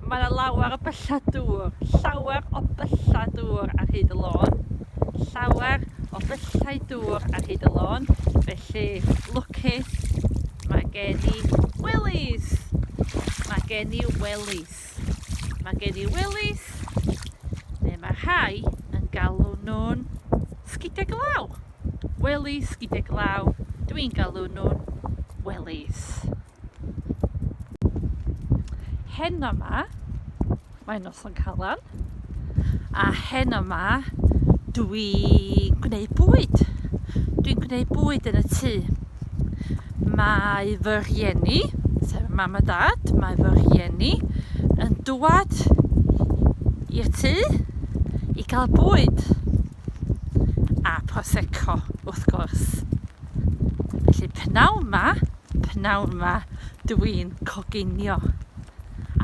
Mae 'na lawer o byllau dŵr, llawer o byllau dŵr ar hyd y lôn, llawer o byllau dŵr ar hyd y lôn, felly lwcus, mae gen i wellies, mae gen i wellies, mae gen i wellies, neu mae rhai yn galw nhw'n sgidiau glaw, wellies, sgidiau glaw, dwi'n galw nhw'n wellies. Heno ma, mae noson calan, a heno ma, dwi'n gwneud bwyd. Dwi'n gwneud bwyd yn y tŷ. Mae fy rhieni, sef mam a dad, mae fy rhieni yn dwad i'r tŷ i gael bwyd a prosecco wrth gwrs. Felly pnawn ma, P'nawn 'ma dw i'n coginio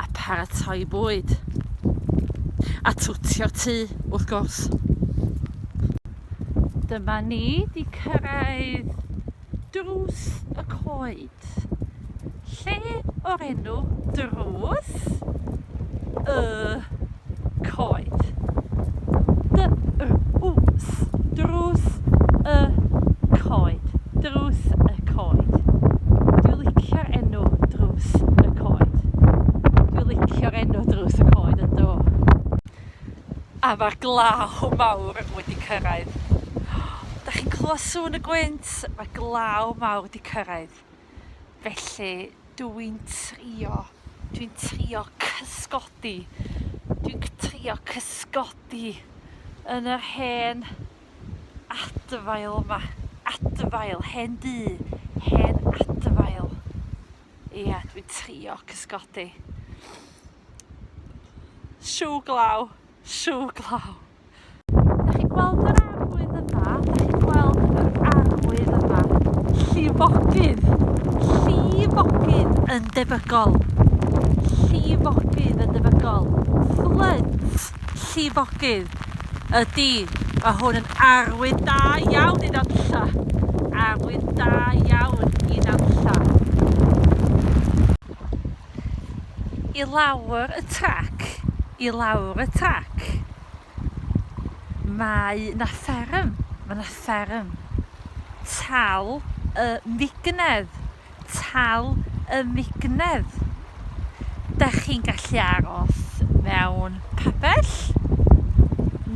a paratoi bwyd. A twtio tŷ, wrth gwrs. Dyma ni di cyrraedd drws y coed. Lle o'r enw drws y coed. Drws, drws y coed, drws y coed. Dwi licio'r enw drws y coed. Dwi licio'r enw drws y coed yn do. A mae'r glaw mawr wedi cyrraedd. Da chi'n clywed sŵn y gwynt? Mae glaw mawr wedi cyrraedd. Felly dw i'n trio, dw i'n trio cysgodi, dw i'n trio cysgodi yn yr hen adfail yma. Adfail, hen dŷ, hen adfail. Ia, dw i'n trio cysgodi. Siw glaw, siw glaw. 'Dach chi'n gweld yr arwydd yma? 'Dach chi'n gweld yr arwydd yma? Llifogydd! Llifogydd yn debygol! Llifogydd yn debygol! Flood! Llifogydd! Ydy, mae hwn yn arwydd da iawn i ddanlla. Arwydd da iawn i ddanlla. I lawr y trac, i lawr y trac. Mae 'na fferm, mae 'na fferm. Tal y mignedd, tal y mignedd. Da chi'n gallu aros mewn pabell?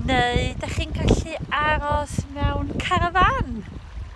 Neu da chi'n gallu aros mewn carafan?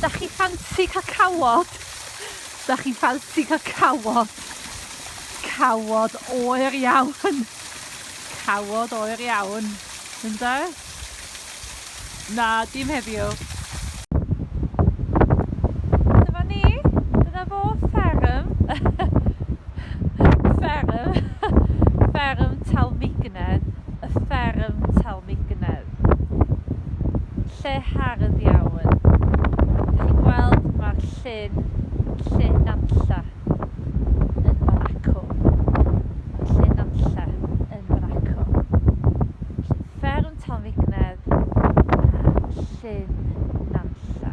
Dach chi ffansi cael cawod? Dach chi'n ffansi cael cawod? Cawod oer iawn. Cawod oer iawn. Ynda? Na, dim heddiw. Dyma ni. Dyna fo fferm. fferm. fferm Talmeignedd. y fferm Telmignedd, lle hardd iawn. Dych chi'n gweld mae'r llyn, lle Nanlla, yn fan acw. Mae'r lle Nanlla yn fan acw. Felly, fferm Telmignedd, a Llyn Nantlle.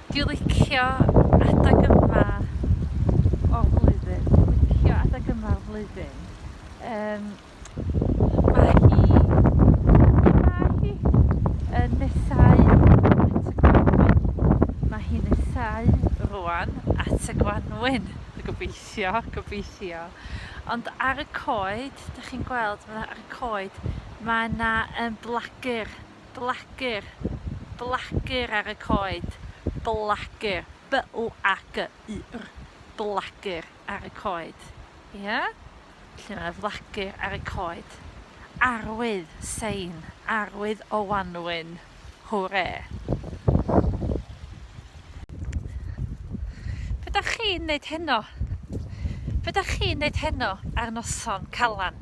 Dwi'n licio adeg yma o'r flwyddyn, dwi'n licio adeg yma o'r flwyddyn. Um, Mae hi, lle mae hi? Yn nesáu at y gwanwyn. Mae hi'n nesáu rwan at y gwanwyn. Gobeithio, gobeithio. Ond ar y coed, dych chi'n gweld, mae ar y coed, mae yna um, blagur, blagur, blagur ar y coed. Blagur, B-L-A-G-U-R, blagur ar y coed. Ie? Yeah? lle mae wlagur ar y coed, arwydd, sein, arwydd o wanwyn. Hwre! Be da chi'n neud heno? Be da chi'n neud heno ar noson calan?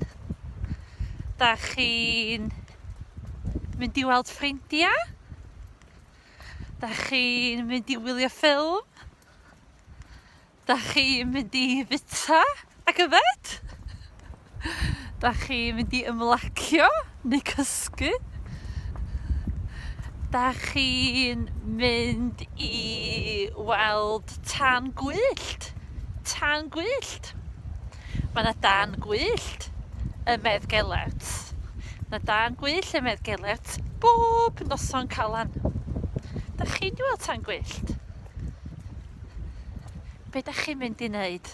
Da chi'n mynd i weld ffrindiau? Da chi'n mynd i wylio ffilm? Da chi mynd i fita ac yfed? Da chi mynd i ymlacio neu cysgu? Da chi'n mynd i weld tan gwyllt? Tan gwyllt? Mae yna dan gwyllt ym Medd Gelert. Mae dan gwyllt ym Medd Gelert bob noson calan. Da chi'n mynd i weld tan gwyllt? Be' 'dach chi'n mynd i neud?